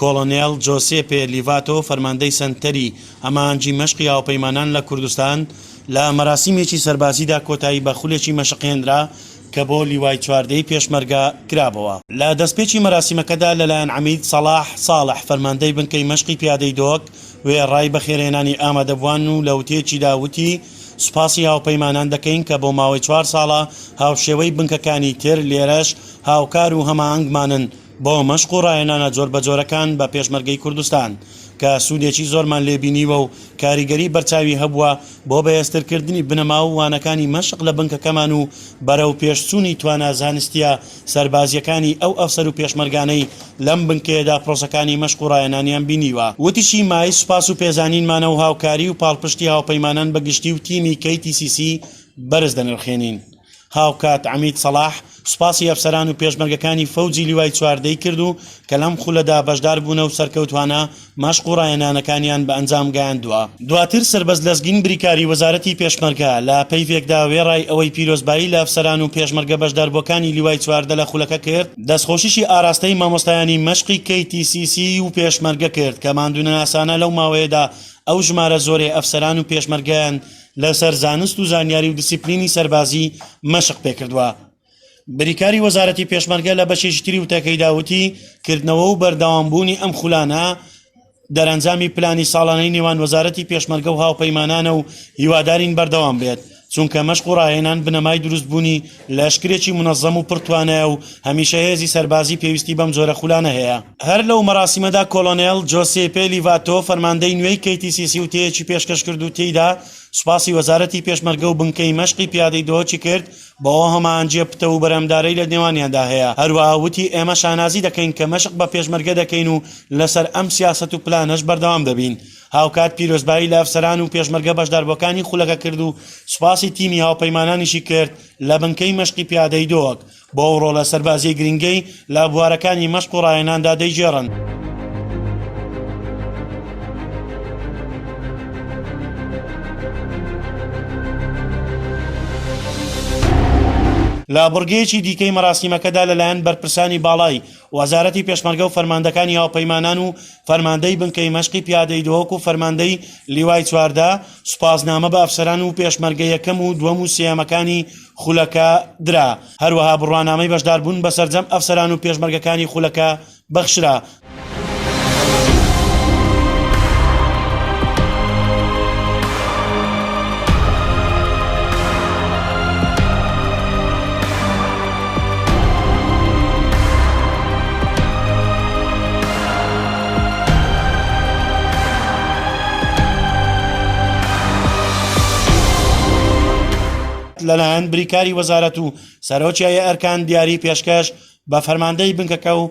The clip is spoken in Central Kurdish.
کۆڵۆنێڵ جۆسێپێ لیڤاتۆ، فەرماندەی سەنتەری ئامانجی مەشقی هاوپەیمانان لە کوردستان، لە مەراسیمێکی سەربازیدا کۆتایی بە خولێکی مەشق هێنرا کە بۆ لیوای چواردەی پێشمەرگە کرابۆوە. لە دەستپێکی مەراسیمەکەدا لەلایەن عەمید سەڵاح ساڵح، فەرماندەی بنکەی مەشقی پیادەی دۆک، وێڕای بەخێرهێنانی ئامادەبووان و لە وتەیەکیدا وتی، سوپاسی هاوپەیمانان دەکەین کە بۆ ماوەی چوار ساڵە هاوشێوەی بنکەکانی تر لێرەش هاوکار و هەماهەنگمانن، بۆ مەشق و ڕاهێنانە جۆربەجۆرەکان بە پێشمەرگەی کوردستان، کە سوودێکی زۆرمان لێ بینیوە و کاریگەری بەرچاوی هەبووە بۆ بەهێزترکردنی بنەما و وانەکانی مەشق لە بنکەکەمان و بەرەوپێشچوونی توانا زانستییە سەربازییەکانی ئەو ئەفسەر و پێشمەرگانەی لەم بنکەیەدا پرۆسەکانی مەشق و ڕاهێنانیان بینیوە. وتیشی، مایەی سوپاس و پێزانینمانە و هاوکاری و پاڵپشتی هاوپەیمانان بە گشتی و تیمی KTCC بەرز دەنرخێنین. هاوکات عەمید سەڵاح سوپاسی ئەفسەران و پێشمەرگەکانی فەوجی لیوای چواردە ی کرد و کە لەم خولەدا بەشداربوونە و سەرکەوتوانە مەشق و ڕایەنانەکانیان بە ئەنجام گەیاندووە. دواتر سەربەست لەزگین بریکاری وەزارەتی پێشمەرگە لە پەیڤێکدا وێڕای ئەوەی پیرۆزبایی لە ئەفسەران و پێشمەرگە بەشداربووەکانی لیوای چواردە لە خولەکە کرد، دەستخۆشیشی ئاراستەی مامۆستایانی مەشقی کەی تی سی سی و پێشمەرگە کرد کە ماندوونەناسانە لەو ماوەیەدا ئەو ژمارە زۆرەی ئەفسەران و پێشمەرگەیان لەسەر زانست و زانیاری و دیسیپلینی سەربازی مەشق پێکردوە. بریکاری وەزارەتی پێشمەرگە لە بەشێکی تری وتەکەیدا وتی، کردنەوە و بەردەوامبوونی ئەم خولانە دەرئەنجامی پلانی ساڵانەی نێوان وەزارەتی پێشمەرگە و هاوپەیمانانە و هیوادارین بەردەوام بێت، چونکە مەشق و ڕاهێنان بنەمای دروستبوونی لەشکرێکی مونەزەم و پڕ توانایە و هەمیشە هێزی سەربازی پێویستی بەم جۆرە خولانە هەیە. هەر لەو مەراسیمەدا کۆلۆنێل جۆسێپێ لیڤاتۆ فەرماندەی نوێی کەیتیسیسی وتەیەکی پێشکەش کرد و تێیدا سوپاسی وەزارەتی پێشمەرگە و بنکەی مەشقی پیادەی دهۆکی کرد بەو هەماهەنگیە پتەو و بەرهەمدارەی لە نێوانیاندا هەیە هەروەها وتی ئێمە شانازی دەکەین کە مەشق بە پێشمەرگە دەکەین و لەسەر ئەم سیاسەت و پلانەش بەردەوام دەبین. هاوکات پیرۆزبایی لە ئەفسەران و پێشمەرگە بەشداربووەکانی خولەکە کرد و سوپاسی تیمی هاوپەیمانانیشی کرد لە بنکەی مەشقی پیادەی دۆک بۆ ئەو ڕۆڵە سەربازییە گرنگەی لە بوارەکانی مەشق و ڕاهێناندا دەیگێڕن. لە بڕگەیەکی دیکەی مەراسیمەکەدا لەلایەن بەرپرسانی باڵای وەزارەتی پێشمەرگە و فەرماندەکانی هاوپەیمانان و فەرماندەی بنکەی مەشقی پیادەی دهۆک و فەرماندەی لیوای چواردە، سوپاسنامە بە ئەفسەران و پێشمەرگە یەکەم و دووەم و سێیەمەکانی خولەکە درا، هەروەها بڕوانامەی بەشداربوون بە سەرجەم ئەفسەران و پێشمەرگەکانی خولەکە بەخشرا. لەلایەن بریکاری وەزارەت و سەرۆکی هەیئەرکان دیاری پێشکەش بە فەرماندەی بنکەکە و